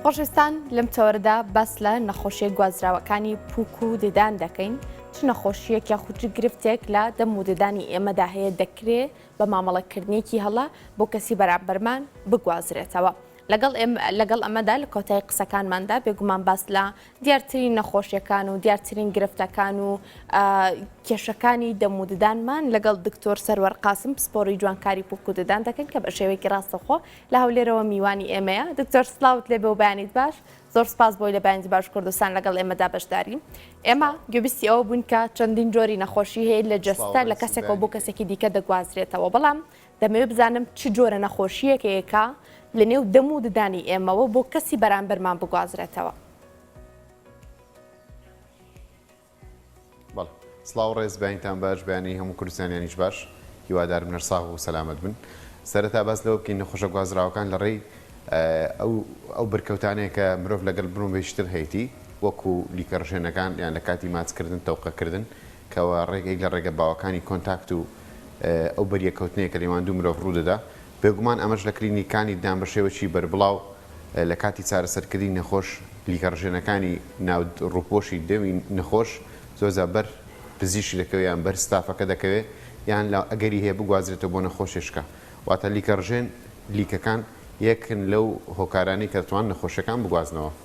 خۆشستان لەم چاوەرەدا باس لە نەخۆشیە گوازراوەکانی پوک و ددان دەکەین چ نەخۆشیەک یا خوچ گرفتێک لە دەم و ددانی ئێمەدا هەیە دەکرێ بە مامەڵەکردنیەکی هەڵە بۆ کەسی بەرامبەرمان بگوازرێتەوە. لەگەڵ لەگەڵ ئەمەدا لە کۆتای قسەکانماندا بێگومان باس لە دیارترین نەخۆشیەکان و دیارترین گرفتەکان و کێشەکانی دەموددانمان لەگەڵ دکتۆر سەروەر قاسم پسپۆری جوانکاری پوکوددان دەکەین کە بە شێوەیەکی ڕاستەخۆ لە هەولێرەوە میوانی ئێمەیە دکتۆر سلااوت لێ بە و بەیانیت باش زۆر سپاس بۆی لە بەیانی باش کوردستان لەگەڵ ئێمەدا بەشداری ئێمە گوبیستی ئەوە بوون کە چەندین جۆری نەخۆشی هەیە لە جەستە لە کەسێکەوە بۆ کەسێکی دیکە دەگوازرێتەوە بەڵام دەمەوێت بزانم چ جۆرە نەخۆشییەکێکە لە نێو دەم و ددانی ئێمەوە بۆ کەسی بەرامبەرمان بگوازرێتەوە. بەڵێ. سڵاو و ڕێز، بەیانیتان باش، بەیانی هەموو کوردستانیانیش باش. هیوادارم نەرساغ و سەلامەت بن. سەرەتا باس لەوە بکەین نەخۆشە گوازراوەکان لە ڕێی ئەو ئەو بەرکەوتانەیە کە مرۆڤ لەگەڵ برومبێکی تر هەیەتی، وەکوو لیکە ڕژێنەکان یان لە کاتی ماچکردن، تەوقەکردن، کەوا ڕێگەی لە ڕێگە باوەکانی کۆنتاکت و ئەو بەریەککەوتنەیە کە لەیوان دوو مرۆڤ ڕوودەدا، بێگومان ئەمەش لە کلینیکانی ددان بە شێوەکی بەربڵاو لە کاتی چارەسەرکردنی نەخۆش پلیکە ڕژێنەکانی ناو ڕووپۆشی دەمی نەخۆش زۆر جار بەر پزیشک دەکەوێ یان بەر ستافەکە دەکەوێ یان لە ئەگەری هەیە بگوازرێتەوە بۆ نەخۆشێشکە واتە لیکە ڕژێن لیکەکان یەکن لەو هۆکارانەی کە دەتوان نەخۆشەکان بگوازنەوە.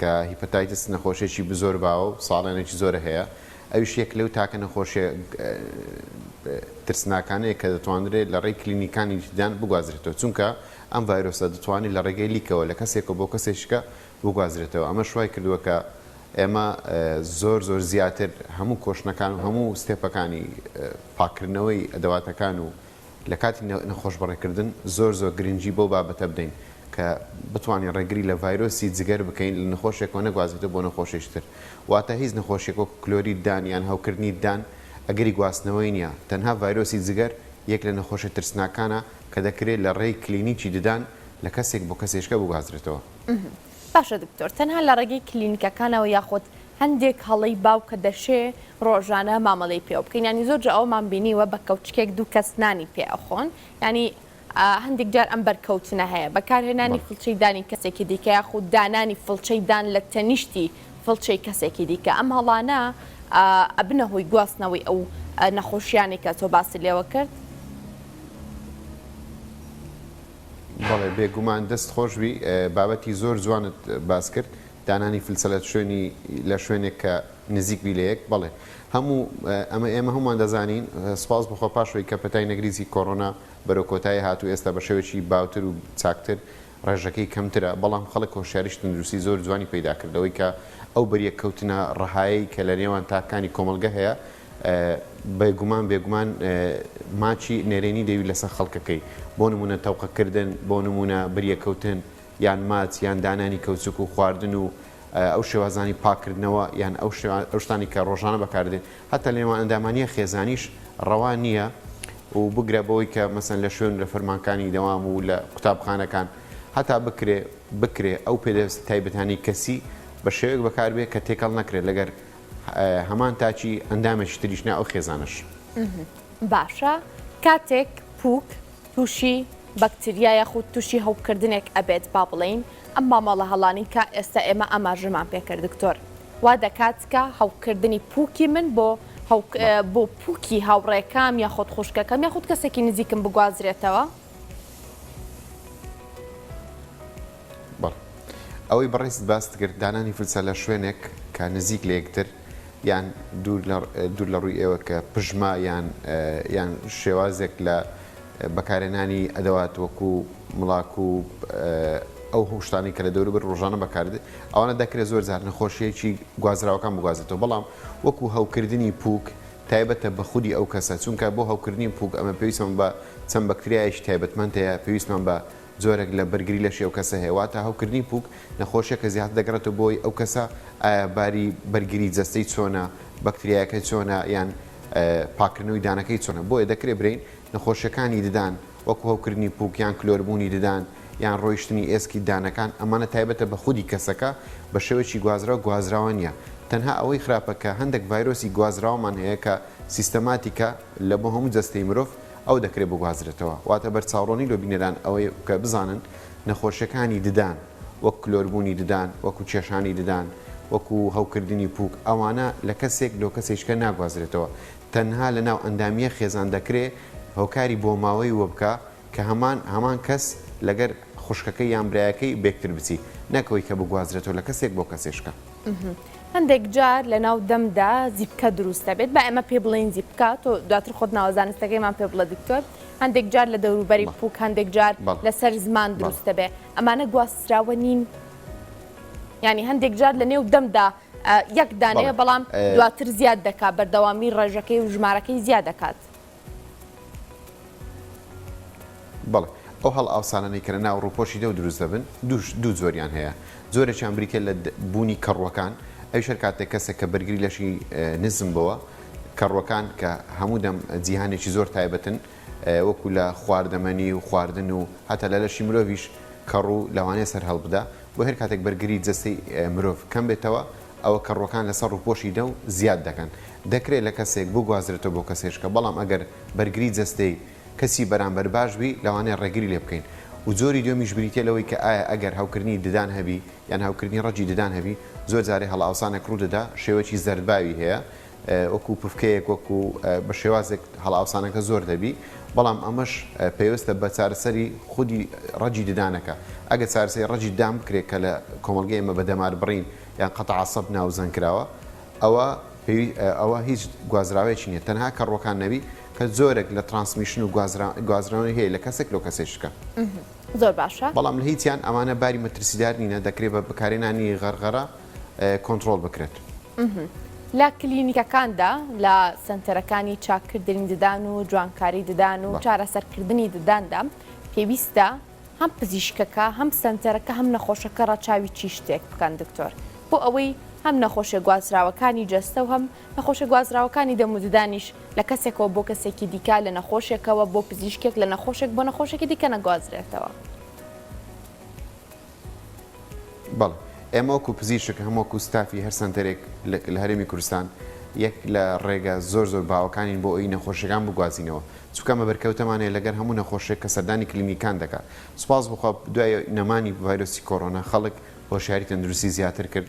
کە هیپەتایتس نەخۆشیەکی بزۆر باوە و ساڵێنێکی زۆرە هەیە ئەویش یەک لەو تاکە نەخۆشیە ترسناکانەیە کە دەتوانرێت لە ڕێی کلینیکانی دیدان بگوازرێتەوە چونکە ئەم ڤایرۆسە دەتوانێت لە ڕێگەی لیکەوە لە کەسێکەوە بۆ کەسێکشکە بگوازرێتەوە ئەمەش وای کردووە کە ئێمە زۆر زۆر زیاتر هەموو کۆشنەکان و هەموو ستێپەکانی پاکردنەوەی ئەدەواتەکان و لە کاتی نەخۆشبڕێکردن زۆر زۆر گرنگی بەو بابەتە بدەین کە بتوانین ڕێگری لە ڤایرۆسی جگەر بکەین لە نەخۆشێکەوە نەگوازێتەوە بۆ نەخۆشێکی تر واتە هیچ نەخۆشیەک وەکو کلۆریت دان یان هەوکردنی ددان ئەگەری گواستنەوەی نیە تەنها ڤایرۆسی جگەر یەک لە نەخۆشە ترسناکانە کە دەکرێت لە ڕێی کلینیکی ددان لە کەسێک بۆ کەسێشکە بگوازرێتەوە. باشە دکتۆر تەنها لە ڕێگەی کلینکەکانەوە یاخود هەندێک هەڵەی باوکە دەشێ ڕۆژانە مامەڵەی پێوە بکەین یانی زۆر جار ئەوەمان بینیوە بە کەوچکێک دوو کەس نانی پێ ئەخۆن یانی هەندێک جار ئەم بەرکەوتنە هەیە بەکارهێنانی فڵچەی دانی کەسێکی دیکە یاخود دانانی فڵچەی دان لە تەنیشتی فڵچەی کەسێکی دیکە ئەم هەڵانە ئەبنە هۆی گواستنەوەی ئەو نەخۆشیانێکە تۆ باسی لێوە کرد. بەڵێ بێگومان دەست خۆش بی بابەتی زۆر جوانت باس کرد دانانی فلسە لە شوێنی لە شوێنێک کە نزیک بی لە یەک بەڵێ هەموو ئەمە ئێمە هەمومان دەزانین سپاس بخۆ پاشەوەی کە پەتای نەگریزی کۆرۆنا بەرەو کۆتایی هات و ئێستا بە شێوێکی باوتر و چاکتر ڕێژەکەی کەمترە بەڵام خەڵک هۆشیاریش تەندروستی زۆر جوانی پەیدا کردەوەی کە ئەو بەریەک کەوتنە ڕەهایەی کە لە نێوان تاکانی کۆمەڵگە هەیە بێگومان بێگومان ماچی نەرێنی دەوی لەسەر خەڵکەکەی بۆ نمونە تەوقەکردن بۆ نمونە بریەکەوتن یان ماچ یان دانانی کەوچک و خواردن و ئەو شێوازانی پاکردنەوە یان ئەو شتانی کە ڕۆژانە بەکاردێت هەتا لێوان ئەندامانیە خێزانیش ڕەوا نییە و بگرە بەوەی کە مەسن لە شوێن لە فەرمانکانی دەوام و لە قوتابخانەکان هەتا بکرێ بکرێ ئەو پێدەست تایبەتانی کەسی بە شێوەیەک بەکاربێت کە تێکەڵ نەکرێت لەگەر هەمان تاکی ئەندامێکی تریش نا ئەو خێزانەش. باشە کاتێک پوک تووشی بەکتریا یاخود تووشی هەوکردنێک ئەبێت با بڵین ئەم مامەڵە هەڵانی کە ئێستا ئێمە ئاماژەمان پێکرد دکتۆر وا دەکات کە هەوکردنی پوکی من بۆ بۆ پوکی هاوڕێکام یاخود خوشکەکەم یاخود کەسێکی نزیکم بگوازرێتەوە؟ بەڵێ ئەوەی بەڕێزت باست کرد دانانی فلسە لە شوێنێک کە نزیک لە یەکتر یان دوور لە ڕووی ئێوە کە پژما یان یان شێوازێک لە بەکارێنانی ئەدەوات وەکو مڵاک و ئەو هۆشتانی کە لە دەوروبەر ڕۆژانە بەکارد ئەوانە دەکرێت زۆر زار نەخۆشیەکی گوازراوەکان بگوازێتەوە بەڵام وەکو هەوکردنی پوک تایبەتە بە خودی ئەو کەسە چونکە بۆ هەوکردنی پووک ئەمە پێویستمان بە چەند بەکتریایەکی تایبەتمەند هەیە پێویستمان بە جۆرێک لە بەرگری لەشی ئەو کەسە هەیە واتە هەوکردنی پووک نەخۆشیەکە زیاتر دەگەڕێتەوە بۆ ئەو کەسە ئایا باری بەرگری جەستەی چۆنە بەکتریایەکە چۆنە یان پاکردنەوەی دانەکەی چۆنە بۆیە دەکرێت برین نەخۆشیەکانی ددان وەکو هەوکردنی پوک یان کلۆربوونی ددان یان ڕۆیشتنی ئێسکی ددانەکان، ئەمانە تایبەتە بە خودی کەسەکە، بە شێوەیەکی گوازراو گوازراوە نییە، تەنها ئەوەی خراپە کە هەندێک ڤایرۆسی گوازراومان هەیە کە سیستەماتیکە لە بۆ هەموو جەستەی مرۆڤ ئەو دەکرێت بگوازرێتەوە، واتە بەرچاوڕۆنی لۆ بینەران ئەوەی کە بزانن نەخۆشیەکانی ددان وەک کلۆربوونی ددان وەکو کێشانی ددان وەکو هەوکردنی پوک ئەوانە لە کەسێک لۆ کەسێکیکە ناگوازرێتەوە تەنها لە ناو ئەندامییە خێزان دەکرێ هۆکاری بۆماوەی وەبکە کە هەمان هەمان کەس لەگەر خوشکەکەی یان برایەکەی بەیەکتر بچی نەک ئەوەی کە بگوازرێتەوە لە کەسێک بۆ کەسێشکە. هەندێک جار لە ناو دەمدا زیپکە دروست دەبێت با ئێمە پێی بڵێین زیپکە تۆ دواتر خۆت ناوە زانستەکەیمان پێ بڵێ دکتۆر هەندێک جار لە دەوروبەری پوک هەندێک جار لەسەر زمان دروست دەبێت ئەمانە گواستراوە نین ینی هەندێک جار لە نێو دەمدا یەک دانەیە بەڵام دواتر زیاد دەکات بەردەوامی ڕێژەکەی و ژمارەکەی زیاد دەکات. بەڵێ، ئەو هەڵئاوسانانەی کە لە ناو ڕووپۆشی دەو دروست دەبن، دوو جۆریان هەیە، جۆرێکیان بریتییە لە بوونی کەڕووەکان، ئەویش هەر کاتێک کەسێک کە بەرگری لەشی نزم بووە، کەڕووەکان کە هەموو دەم جیهانێکی زۆر تایبەتن، وەکو لە خواردەمەنی و خواردن و هەتا لە لەشی مرۆڤیش کەڕوو لەوانەیە سەرهەڵبدا، بۆیە هەر کاتێک بەرگری جەستەی مرۆڤ کەم بێتەوە، ئەوە کەڕووەکان لەسەر ڕووپۆشی دەو زیاد دەکەن. دەکرێت لە کەسێک بگوازرێتەوە بۆ کەسێشکە، بەڵام ئەگەر بەرگری جەستەی کەسی بەرامبەر باش بی، لەوانەیە ڕێگری لێ بکەین. و جۆری دوێمیش بریتیە لەوەی کە ئایا ئەگەر هەوکردنی ددان هەبی یان هەوکردنی ڕەگی ددان هەبی، زۆر جارێ هەڵئاوسانێک ڕوو دەدا شێوەکی زەردباوی هەیە، وەکو پفکەیەک وەکو بە شێوازێک هەڵئاوسانەکە زۆر دەبی بەڵام ئەمەش پێوستە بە چارەسەری خودی ڕەجی ددانەکە ئەگە چارەسەری ڕەجی دام بکرێت کە لە کۆمەلگە ئێمە بە دەمار بڕین یان قەتە عسەب ناوزەنگ کراوە ئەوە ئەوە هیچ گوازراوەیەکی نیە تەنها کەڕوەکان نەبی کە زۆرێک لە ترانسمیشن و گوازرانی هەیە لە کەسێک لۆ کەسێشکە زۆر باشە بەڵام لە هیچیان ئەمانە باری مەترسیدار نینە دەکرێت بە بکارێنانی غەرغەرە کۆنترۆڵ بکرێت. لە کلینیکەکاندا لە سەنتەرەکانی چاککردنی ددان و جوانکاری ددان و چارەسەرکردنی دداندا پێویستە هەم پزیشکەکە هەم سەنتەرەکە هەم نەخۆشەکە ڕەچاوی چی شتێک بکەن دکتۆر بۆ ئەوەی هەم نەخۆشە گوازراوەکانی جەستە و هەم نەخۆشە گوازراوەکانی دەم و ددانیش لە کەسێکەوە بۆ کەسێکی دیکە لە نەخۆشێکەوە بۆ پزیشکێک لە نەخۆشێک بۆ نەخۆشێکی دیکە نەگوازرێتەوە. بەڵێ ئێمە وەکو پزیشک هەم وەکو ستافی هەر سەنتەرێک لە هەرێمی کوردستان یەک لە ڕێگە زۆر زۆر باوەکانین بۆ ئەوی نەخۆشیەکان بگوازینەوە چونکە ئەمە بەرکەوتەمان هەیە لەگەر هەموو نەخۆشێک کە سەردانی کلینیکان دەکا سوپاس بخوا دوای نەمانی ڤایرۆسی کۆڕۆنا خەڵک هۆشیاری تەندروستی زیاتر کرد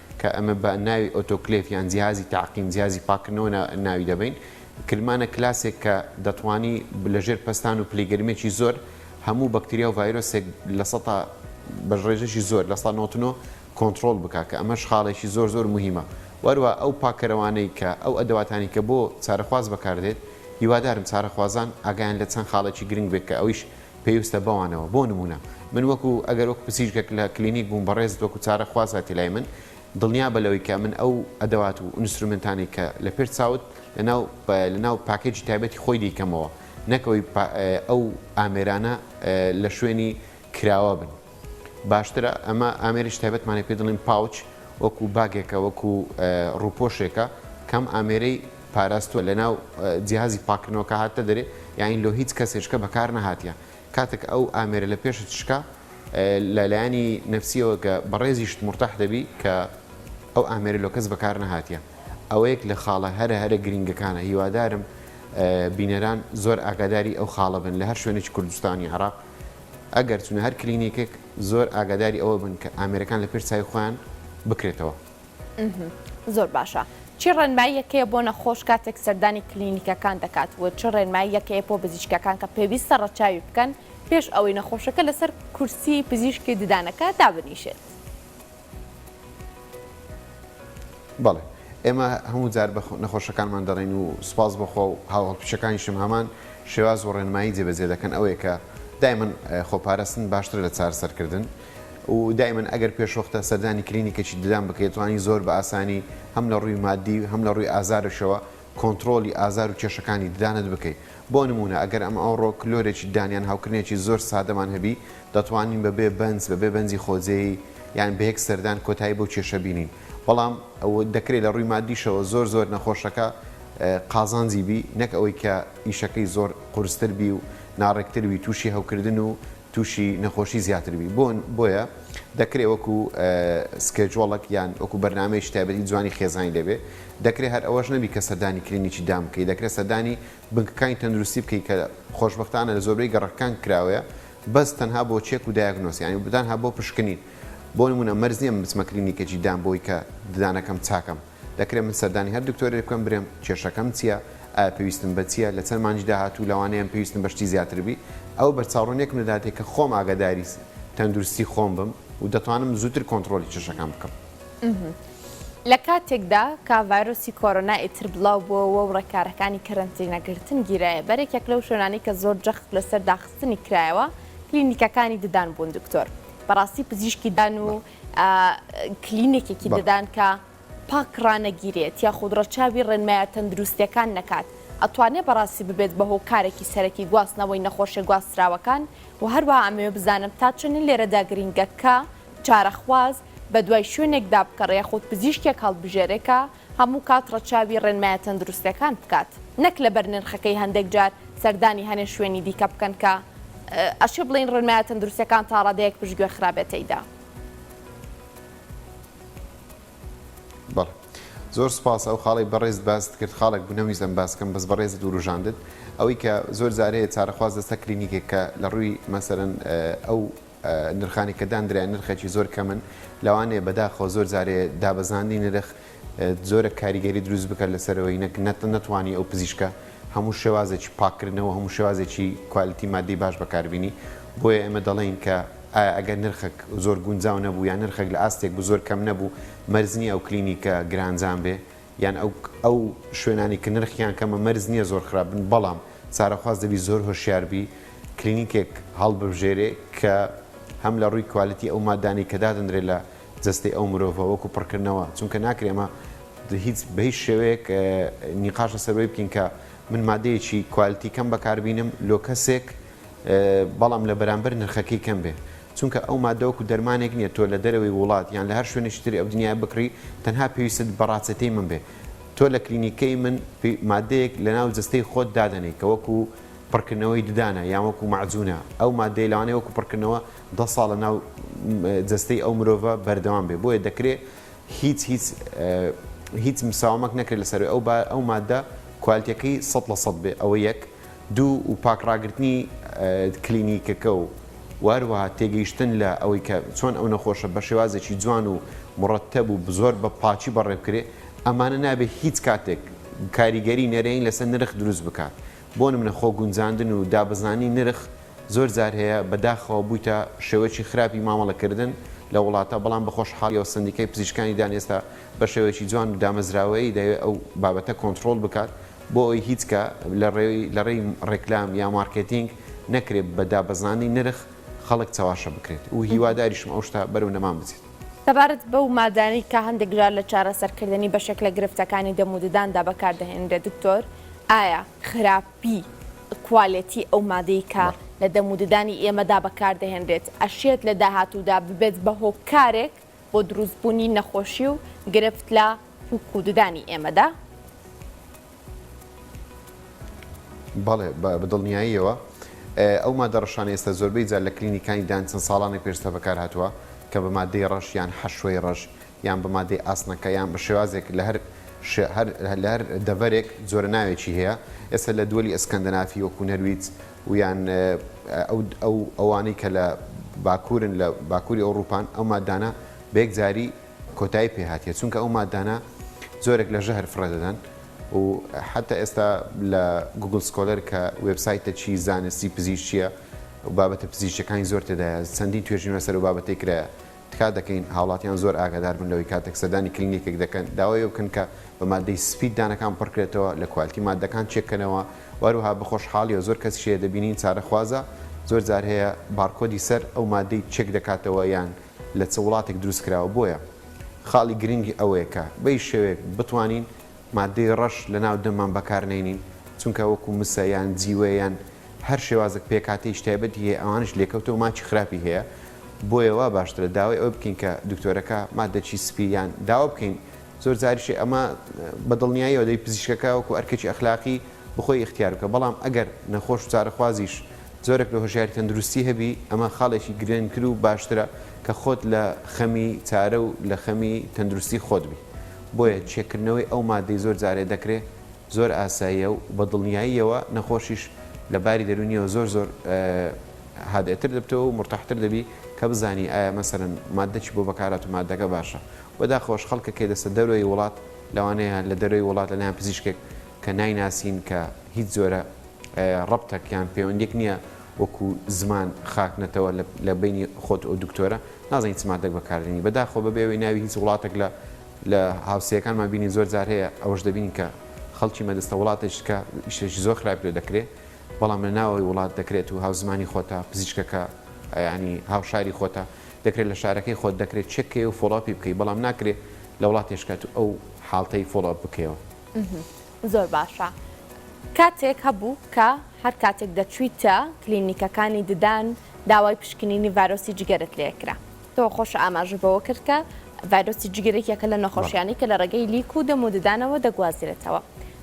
کە ئەمە بە ناوی ئۆتۆکلێڤ یان جیهازی تەعقیم، جیهازی پاککردنەوە، ناوی دەبەین. کلمانە کلاسێک کە دەتوانی لە ژێر پەستان و پلەی گەرمییەکی زۆر هەموو بەکتریا و ڤایرۆسێک لە سەتا بە ڕێژەیەکی زۆر، لە سەتا نۆزدە و نۆ، کۆنتڕۆڵ بکا کە ئەمەش خاڵێکی زۆر زۆر موهیمە و هەروەها ئەو پاککەرەوانەی کە ئەو ئەدەواتانەی کە بۆ چارەخواز بەکاردێت هیوادارم چارەخوازان ئاگایان لە چەند خاڵێکی گرنگ بێت کە ئەویش پێوستە بەوانەوە بۆ نموونە من وەکو ئەگەر وەکو پزیشکێک لە کلینیک بووم بەڕێزت وەکو چارە خواز هاتی لای من دڵنیابە لەوەی کە من ئەو ئەدەوات و ئونسترومێنتانەی کە لە پێش چاوت لەناو لەناو پاکێجی تایبەتی خۆی دەیکەمەوە نەک ئەوەی ئەو ئامێرانە لە شوێنی کراوە بن. باشترە ئەمە ئامێرێکی تایبەتمانە پێ دەڵێن پاوچ وەکو باگێکە وەکو ڕوپۆشێکە کەم ئامێرەی پاراستوە لەناو جیهازی پاکردنەوەکە هاتە دەرێ یاین لۆ هیچ کەسێشکە بەکار نەهاتە کاتێک ئەو ئامێرە لە پێشت شکا لەلایانی نفسیەوە کە بەڕێزیشت مرتاح دەبی کە ئەو ئامێرە لۆ کەس بەکار نەهاتە ئەوەیەک لە خاڵە هەرە هەرە گرنگەکانە هیوادارم بینەران زۆر ئاگاداری ئەو خاڵە بن لە هەر شوێنێکی کوردستانی عراق ئەگەر چونە هەر کلینیکێک زۆر ئاگاداری ئەوە بن کە ئامێرەکان لە پێش چاوی خۆیان بکرێتەوە. زۆر باشە چی ڕێنماییەک هەیە بۆ نەخۆش کاتێک سەردانی کلینیکەکان دەکات و چ ڕێنماییەک هەیە بۆ پزیشکەکان کە پێویستە ڕەچاوی بکەن پێش ئەوەی نەخۆشەکە لەسەر کورسی پزیشکی ددانەکە دابنیشێت؟ بەڵێ ئێمە هەموو جار بە نەخۆشەکانمان دەڵێن و سوپاس بۆ خوا و هاوهەڵپیشەکانیشم هەمان شێواز و ڕێنمایی جێبەجێ دەکەن ئەوەیە کە دایمەن خۆپارستن باشترە لە چارەسەرکردن و دایمەن ئەگەر پێشوەختە سەردانی کلینیکێکی ددان بکەیت توانی زۆر بە ئاسانی هەم لە ڕووی مادی و هەم لە ڕووی ئازارشەوە کۆنتڕۆڵی ئازار و کێشەکانی ددانت بکەیت. بۆ نموونە، ئەگەر ئەم ئەوڕۆ کلۆرێکی ددان یان هەوکردنێکی زۆر سادەمان هەبی، دەتوانین بەبێ بەنج، بەبێ بەنجی خۆجێی، یان بەیەک سەردان کۆتایی بەو کێشە بینین. بەڵام دەکرێت لە ڕووی ماددیشەوە زۆر زۆر نەخۆشەکە قازانجی بی، نەک ئەوەی کە ئیشەکەی زۆر قورستر بی و ناڕێکتر بی، تووشی هەوکردن و تووشی نەخۆشی زیاتر بی بۆن بۆیە دەکرێ وەکو سکێجۆڵەک یان وەکو بەرنامەیەکی تایبەتی جوانی خێزانی لێبێ دەکرێ هەر ئەوەش نەبی کە سەردانی کلینیکی دان بکەی دەکرێ سەردانی بنکەکانی تەندروستی بکەی کە خۆشبەختانە لە زۆربەی گەڕەکەکان کراوەیە بەس تەنها بۆ چێک و دایەگنۆس یانی بتانها بۆ پشکنین بۆ نمونە مەرج نییە من بچمە کلینیکێکی دان بۆی کە ددانەکەم چاکەم دەکرێ من سەردانی هەر دکتۆرێک بکەم برێم کێشەکەم چیە ئایا پێویستم بە چیە لە چەند مانگی داهاتوو لەوانەیەم پێویستم بە شتی زیاتر بی ئەوە بەرچاوڕوون یەکم دەداتێ کە خۆم ئاگاداری تەندروستی خۆم بم و دەتوانم زووتر کۆنتڕۆلی کێشەکان بکەم. لە کاتێکدا کە ڤایرۆسی کۆرۆنا ئیتر بڵاو بۆوە و ڕێکارەکانی کەرەنتینە گرتن گیرایە بەر یەکێک لەو شوێنانەی کە زۆر جەخت لەسەر داخستنی کرایەوە کلینیکەکانی ددان بوون دکتۆر بەڕاستی پزیشکی دان و کلینێکێکی ددان کە پاک ڕانەگیرێت یاخود ڕەچاوی ڕێنمایە تەندروستیەکان نەکات ئەتوانێت بەڕاستی ببێت بە هۆکارێکی سەرەکی گواستنەوەی نەخۆشە گواستراوەکان و هەروە ئەمەوێ بزانم تا چەنە لێرەدا گرنگەکە چارەخواز بە دوای شوێنێکدا بکەڕێ خۆت پزیشکێک هەڵبژێرێکە هەموو کات ڕەچاوی ڕێنمایە تەندروستەکان بکات نەک لەبەر نرخەکەی هەندێک جار سەردانی هەنێ شوێنی دیکە بکەن کە ئەشێ بڵێین ڕێنمایە تەندروستەکان تا ڕادەیەک پشتگوێ خرابێت تێیدا. بەڵێ زۆر سوپاس ئەو خاڵەی بەڕێزت باست کرد خاڵێک بوو نەمویست ئەم باس بکەم بەس بەڕێزت وروژاندت ئەوەی کە زۆر جار هەیە چارەخواز دەستە کلینیکێک کە لە ڕووی مەسەلەن ئەو نرخانی کە داندرایە نرخێکی زۆر کەمن، لەوانەیە بەداخەوە زۆر جارێ دابەزاندنی نرخ جۆرە کاریگەری دروست بکات لەسەرەوەی نەک نەتوانی ئەو پزیشکە هەموو شێوازێکی پاککردنەوە هەموو شێوازێکی کوالیتی ماددی باش بەکاربینی بۆیە ئێمە دەڵێین کە ئایا ئەگەر نرخەک زۆر گونجاو نەبوو یان نرخەک لە ئاستێک بوو زۆر کەم نەبوو مەرج نییە ئەو کلینیکە گرانجان بێ یان ئەو ئەو شوێنانی کە نرخیان کەمە مەرج نییە زۆر خراپ بن بەڵام چارەخواز دەبی زۆر هۆشیار بی کلینیکێک هەڵببژێرێ کە هەم لە ڕووی کوالیتی ئەو مادانەی کە دادەنرێ لە جەستەی ئەو مرۆڤە وەکو پڕکردنەوە چونکە ناکرێ ئەمە هیچ بە هیچ شێوەیەک نیقاش لەسەر وەی بکەین کە من مادەیەکی کوالیتی کەم بەکاربینم لۆ کەسێک بەڵام لە بەرامبەر نرخەکەی کەم بێ چونکە ئەو ماددە وەکو دەرمانێک نیە تۆ لە دەرەوەی ووڵات یان لە هەر شوێنێکی تری ئەو دنیایە بکڕی تەنها پێویستت بە ڕاچەتەی من بێ تۆ لە کلینیکەی من ماددەیەک لە ناو جەستەی خۆت دادەنێی کە وەکو پڕکردنەوەی ددانە یان وەکو مەعجونە ئەو ماددەیە لەوانەیە وەکو پڕکردنەوە دە ساڵ لە ناو جەستەی ئەو مرۆڤە بەردەوام بێ بۆیە دەکرێ هیچ هیچ هیچ مساومەک نەکرێت لەسەروی ئەو ئەو ماددە کوالتیەکەی سەد لە سەد بێ ئەوە یەک دوو و پاک ڕاگرتنی کلینیکەکە و وهەروەها تێگەیشتن لە ئەوەی کە چۆن ئەو نەخۆشە بە شێوازێکی جوان و مڕەتەب و زۆر بە پاکی بەڕێ بکرێ ئەمانە نابێ هیچ کاتێک کاریگەری نەرێنی لەسەر نرخ دروست بکات بۆ نمونە خۆ گونجاندن و دابەزانی نرخ زۆر جار هەیە بە داخەوە بویتە شێوەکی خراپی مامەڵە کردن لە وڵاتە بەڵام بە خۆشحاڵیەوە سەندیکای پزیشکانی دان ئێستا بە شێوەکی جوان و دامەزراوەیی دەیەوێ ئەو بابەتە کۆنتڕۆڵ بکات بۆ ئەوەی هیچ کە لە ڕێی ڕێکلام یا مارکێتینگ نەکرێت بە دابەزانی نرخ خەڵک چەواشە بکرێت و هیواداریشم ئەو شتە بەرەو نەمان بچێت. سەبارەت بەو مادانەی کە هەندێک جار لە چارەسەرکردنی بەشێک لە گرفتەکانی دەم و دداندا بەکاردەهێنرێت دکتۆر، ئایا خراپی کوالێتی ئەو مادەی کە لە دەم و ددانی ئێمەدا بەکاردەهێنرێت ئەشێت لە داهاتوودا ببێت بە هۆکارێک بۆ دروستبوونی نەخۆشی و گرفت لە پووک و ددانی ئێمەدا؟ بەڵێ، بە دڵنیاییەوە. ئەو مادە ڕەشانە ئێستا زۆربەی جار لە کلینیکانی ددان چەند ساڵانێک پێشتر بەکارهاتووە کە بە مادەی ڕەش یان حەشوەی ڕەش یان بە مادەی ئاسنەکە یان بە شێوازێک لە هەر لە هەر دەڤەرێک جۆرە ناوێکی هەیە. ئێستا لە دوەلی ئەسکەندەنافی وەکوو نەرویج ویان ئەو ئەوانەی کە لە باکوورن لە باکووری ئەوڕووپان ئەو ماددانە بە یەکجاری کۆتایی پێ هاتیە چونکە ئەو ماددانە زۆرێک لە ژەهر فڕێ دەدەن و حتا ئێستا لە گوگل سکۆلەر کە وبسایتە چی زانستی پزیشتیە و بابەتە پزیشتەکانی زۆر تێدایە چەندین توێژین لەسەر و بابەتی کرایە تکا دەکەین هاوڵاتیان زۆر ئاگادار بن لەوەی کاتێک سەردانی کلینیکێک دەکەن داوای ئەوە بکەن کە بە مادەی سپی دانەکان پڕکرێتەوە، لە کوالتی ماددەکان چێک کەنەوە، و هەروەها بەخۆشحاڵیەوە زۆر کەسیش هەیە دەبینین چارەخوازە زۆر جار هەیە بارکۆدی سەر ئەو مادەی چێک دەکاتەوە یان لە چ وڵاتێک دروست کراوە بۆیە خاڵی گرنگ ئەوەیە کە بەی شێوەیەک بتوانین ماددەی ڕەش لە ناو دەممان بەکار نەینین چونکە وەکو مسە یان جیوە یان هەر شێوازەک پێکهاتەیش تایبەتی هەیە ئەوانەش لێکەوتەو ماچی خراپی هەیە بۆیە وا باشترە داوای ئەوە بکەین کە دکتۆرەکە ماددەچی سپی یان داوا بکەین زۆر جاریشی ئەمە بە دڵنیایەوە دەی پزیشکەکە وەکو ئەرکەکی ئەخلاقی بخۆی ئیختیار بکە بەڵام ئەگەر نەخۆش و چارەخوازیش جۆرەک لە هۆشیاری تەندروستی هەبی ئەمە خاڵێکی گرنگترو باشترە کە خۆت لە خەمی چارەو لە خەمی تەندروستی خۆت بی بۆیە چێکردنەوەی ئەو ماددەی زۆر جارێ دەکرێ زۆر ئاساییە و بە دڵنیاییەوە نەخۆشیش لە باری دەروونییەوە زۆر زۆر هادئتر دەبتەوە و مورتاحتر دەبی کە بزانی ئایا مەسەلەن ماددە چی بۆ بەکارهات و ماددەکە باشە و داخۆش خەڵکە کێ دەستە دەرۆی وڵات لەوانەیە لە دەرۆی وڵات لەلایەن پزیشکێک کە نایناسین کە هیچ جۆرە ڕەبتەک یان پەیوەندیەک نیە وەکو زمان خاک نەتەوە لە بەینی خۆت و دکتۆرە نازانی چ مادەک بەکاردێنی بەداخەوە بەبێ ئەوەی ناوی هیچ وڵاتەک لە لە هاوسێکانمان بینین زۆر جار هەیە ئەوەش دەبینین کە خەڵکی مەدەستە وڵاتێک کە ئیشێکی زۆر خراپ لێ دەکرێ بەڵام لە ناوەوەی وڵات دەکرێت و هاوزمانی خۆتە پزیشکەکە ینی هاوشاری خۆتە دەکرێت لە شارەکەی خۆت دەکرێت چێکەی و فۆڵاپی بکەی بەڵام ناکرێت لە وڵاتێشکات و ئەو حاڵتەی فۆڵاپ بکەیەوە. زۆر باشە کاتێک هەبوو کە هەر کاتێک دەچویتە کلینیکەکانی ددان داوای پشکنینی ڤایرۆسی جگەرت لێ کرا تۆ خۆش ئاماژە بەوە کرد کە ڤایرۆسی جگەرێک یەکە لە نەخۆشیانی کە لە ڕێگەی لیک و دەم و ددانەوە دەگوازرێتەوە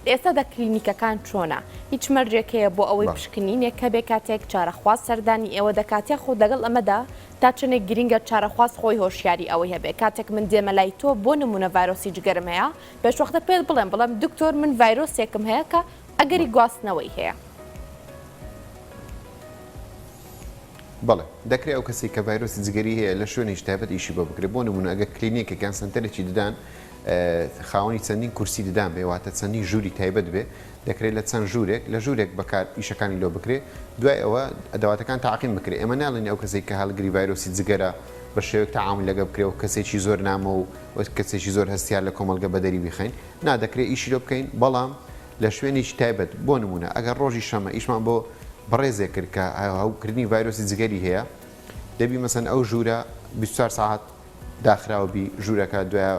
ئێستا دە کلینیکەکان چۆنە هیچ مەرجێک هەیە بۆ ئەوەی پشکنینێک کە بێ کاتێک چارەخواز سەردانی ئێوە دەکات یاخود لەگەڵ ئەمەدا تا چنێک گرنگە چارەخواز خۆی هۆشیاری ئەوەی هەبێ کاتێک من دێمە لای تۆ بۆ نمونە ڤایرۆسی جگەرم هەیە پێشوەختە پێت بڵێم بڵێم دکتۆر من ڤایرۆسێکم هەیە کە ئەگەری گواستنەوەی هەیە. بەڵێ دەکرێ ئەو کەسی کە ڤایرۆسی جگەری هەیە لە شوێنێکی تایبەت ئیشی بۆ بکرێت بۆ نمونە ئەگەر کلینیکێک یان سەنتەرێکی ددان خاوەنی چەندین کورسی ددان بێ واتە چەندین ژووری تایبەت بێ دەکرێت لە چەند ژوورێک لە ژوورێک بەکار ئیشەکانی لۆ بکرێ دوای ئەوە ئەدەواتەکان تاقیم بکرێ ئێمە ناڵین ئەو کەسێک کە هەڵگری ڤایرۆسی جگەرە بە شێوەیەک تەعامول لەگە بکرێ و کەسێکی زۆر نامۆ و وەک کەسێکی زۆر هەستیار لە کۆمەڵگە بەدەری بیخەین، نا دەکرێت ئیشی لۆ بکەین بەڵام لە شوێنێکی تایبەت، بۆ نموونە ئەگەر ڕۆژی شەمە ئیشمان بۆ بەڕێزێک کرد کە هەوکردنی ڤایرۆسی جگەری هەیە دەبی مەسەن ئەو ژوورە بیست و چوار سەعات داخراو بی ژوورەکە دوایە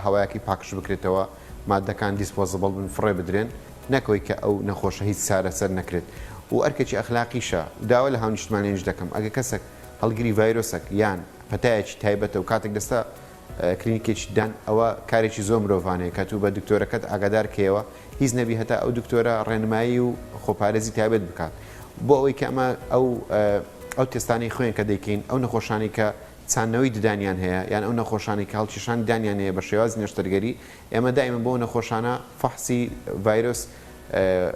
هەوایەکی پاکژ بکرێتەوە مادەکان دیسپۆزبڵ بن فڕێ بدرێن نەکەوەی کە ئەو نەخۆشە هیچ چارەسەر نەکرێت و ئەرکێکی ئەخلاقیشە داوا لە هاونیشتمانیانیش دەکەم ئەگەر کەسەک هەڵگری ڤایرۆسەک یان پەتایەکی تایبەتە و کاتێک دەستە کلینیکێکی دان ئەوە کارێکی زۆر مرۆڤانەیە کە توو بە دکتۆرەکەت ئاگادار کەیەوە هیچ نەبی هەتا ئەو دکتۆرە ڕێنمایی و خۆپارێزی تایبەت بکات بۆ ئەوەی کە ئەمە ئەو ئەو تستانی خوێن کە دەیکەین ئەو نەخۆشانی کە چاندنەوەی ددانیان هەیە یان ئەو نەخۆشانی کاڵکیشان دانیان هەیە بە شێواز نەشتەرگەری ئێمە دائیمەن بەو نەخۆشانە فەحسی ڤایرۆس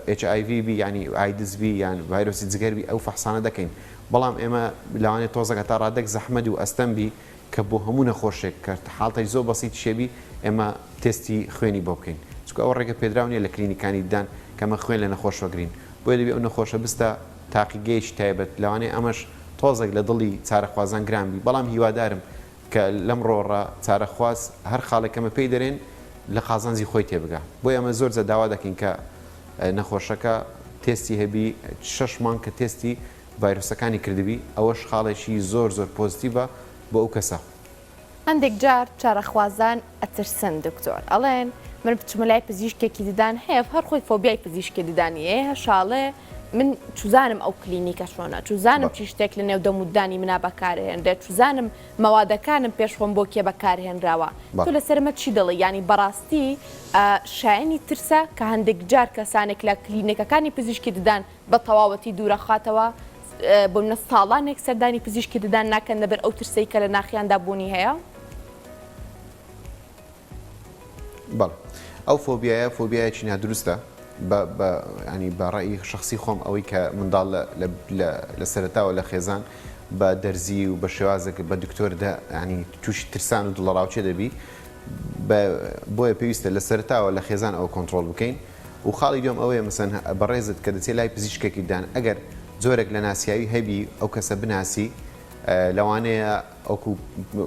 ئێچ ئای ڤی بی یانی ئایدز بی یان ڤایرۆسی جگەر بی ئەو فەحسانە دەکەین بەڵام ئێمە لەوانەیە تۆزەک هەتا ڕادەک زەحمەت و ئەستەم بی کە بۆ هەموو نەخۆشێک کە حاڵتەی زۆر بەسیتیشێ بی ئێمە تێستی خوێنی بۆ بکەین چونکە ئەوە ڕێگە پێدراو نییە لە کلینیکانی ددان کە ئەمە خوێن لە نەخۆش وەگرین بۆیە دەبێ ئەو نەخۆشە بستە تاقیگەیەکی تایبەت لەوانەیە ئەمەش تۆزەک لە دڵی چارەخوازان گران بی بەڵام هیوادارم کە لەم ڕۆڕە چارەخواز هەر خاڵێک کەمە پێی دەرێن لە قازانجی خۆی تێبگا بۆی ئەمە زۆر جا داوا دەکەین کە نەخۆشەکە تێستی هەبی شەش مانگ کە تێستی ڤایرۆسەکانی کردبی ئەوەش خاڵێکی زۆر زۆر پۆزتیڤە بۆ ئەو کەسە. هەندێک جار چارەخوازان ئەترسن دکتۆر ئەڵێن من بچمە لای پزیشکێکی ددان هەیە هەر خۆی فۆبیای پزیشکی ددانی ئێ هەشاڵێ من چوزانم ئەو کلینیکە چۆنە چوزانم چی شتێک لە نێو دەموددانی منا بەکارهێنرێت چوزانم مەوادەکانم پێش خۆم بۆ کێ بەکارهێنراوە تۆ لەسەرمە چی دەڵێ ینی بەڕاستی شایانی ترسە کە هەندێک جار کەسانێک لە کلینەکەکانی پزیشکی ددان بە تەواوەتی دوورەخاتەوە، بۆ منە ساڵانێک سەردانی پزیشکی ددان ناکەن لەبەر ئەو ترسەی کە لە ناخیاندا بوونی هەیە. بەڵێ ئەو فۆبیایە فۆبیایەکی نادروستە، بە ڕەئی شەخسی خۆم ئەوەی کە منداڵ لە سەرەتاوە لە خێزان بە دەرزی و بە شێوازێک بە دکتۆر تووشی ترسان و دڵەڕاوکێ دەبی، بۆیە پێویستە لە سەرەتاوە لە خێزان ئەوە کۆنتڕۆڵ بکەین. و خاڵی دوێم ئەوەیە مەسەن بەڕێزت کە دەچێ لای پزیشکێکی ددان ئەگەر جۆرێک لە ناسیاوی هەبی ئەو کەسە بناسی لەوانەیە ئەوکو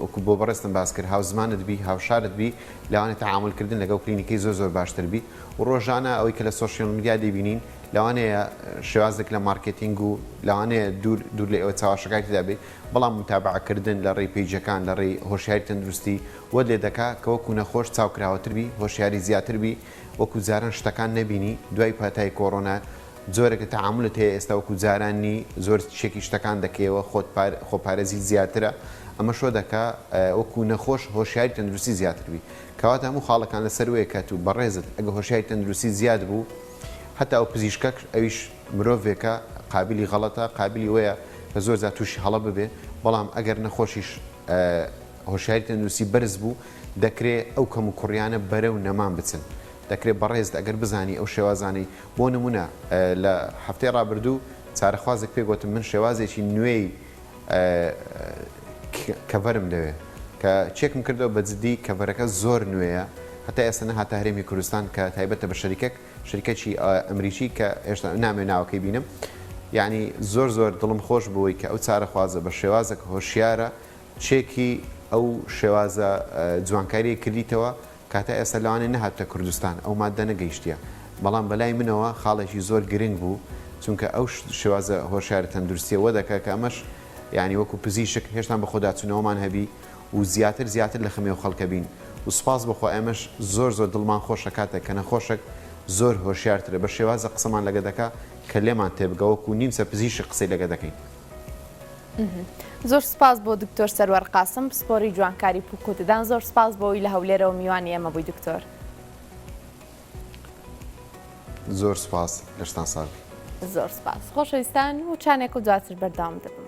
وەکو بۆ بەڕێزتم باس کرد هاوزمانت بی هاوشارت بی لەوانێ تەعامل کردن لەگەڵ کلینیکی زۆر زۆر باشتر بی و ڕۆژانە ئەوەی کە لە سۆشیال میدیا دەیبینین لەوانەیە شێوازێک لە مارکێتینگ و لەوانەیە دوور دوور لە ئێوە چاواشەکانی تێدا بی بەڵام متابعە کردن لە ڕێی پەیجەکان لە ڕێی هۆشیاری تەندروستی وەت لێ دەکا کە وەکو نەخۆش چاوکراوەتر بی هۆشیاری زیاتر بی وەکو جاران شتەکان نەبینی دوای پاتای کۆڕۆنا جۆرێک لە تەعامولت هەیە ئێستا وەکو جاران نی زۆر چێکی شتەکان دەکەیەوە خۆت خۆپارێزی زیاترە ئەمەش وا دەکا وەکو نەخۆش هۆشیاری تەندروستی زیاتر بی کەواتە هەموو خاڵەکان لەسەر وەیە کە تو بەڕێزت ئەگە هۆشیاری تەندروستی زیاد بوو هەتا و پزیشکەک ئەویش مرۆڤێکە قابلی غەڵەتە قابلی وەیە کە زۆر جار تووشی هەڵە ببێ بەڵام ئەگەر نەخۆشیش هۆشیاری تەندروستی بەرز بوو، دەکرێت ئەو کەموکوڕیانە بەرەو نەمان بچن. دەکرێت بەڕێزت ئەگەر بزانی ئەو شێوازانەی بۆ نموونە لە هەفتەی ڕابردوو چارەخوازێک پێی گۆتم من شێوازێکی نوێی کەڤەرم دەوێت کە چێکم کردەوە بە جدی کەڤەرەکە زۆر نوێیە هەتا ئێستا نەهاتە هەرێمی کوردستان کە تایبەتە بە شەریکەک شرکەچی ئەمریکی کە هێشتا نامەوێ ناوەکەی بینم یعنی زۆر زۆر دڵم خۆش بووی کە ئەو چارە خوازە بە شێوازەکە هۆشیارە چێکی ئەو شێوازە جوانکاریە کردیتەوە کاتا ئێستا لەوانێ نەهاتە کوردستان ئەو مادە نەگەیشتە بەڵام بەلای منەوە خاڵێکی زۆر گرنگ بوو چونکە ئەو شێوازە هۆشارە تەندروستیە وەدەکە کە ئەمەش یعنی وەکو پزیشک هێشتان بە خۆداچونەوەمان هەبی و زیاتر زیاتر لە خەمی ئەو خەڵکە بین و سوپاس بۆ خوا ئێمەش زۆر زۆر دڵمان خۆشە کاتێک کە نەخۆشەک زۆر هۆشیار ترە بە شێوازێک قسەمان لەگە دەکا کە لێمان تێبگا وەکو نیمچە پزیشک قسەی لەگە دەکەین. زۆر سوپاس بۆ دکتۆر سەروەر قاسم پسپۆری جوانکاری پوک و ددان زۆر سوپاس بۆ وی لە هەولێرەوە میوانی ئێمە بووی دکتۆر. زۆر سوپاس لەشتان ساغ بی. زۆر سوپاس خۆشەویستان وچانێک و دواتر بەردەوام دەبم.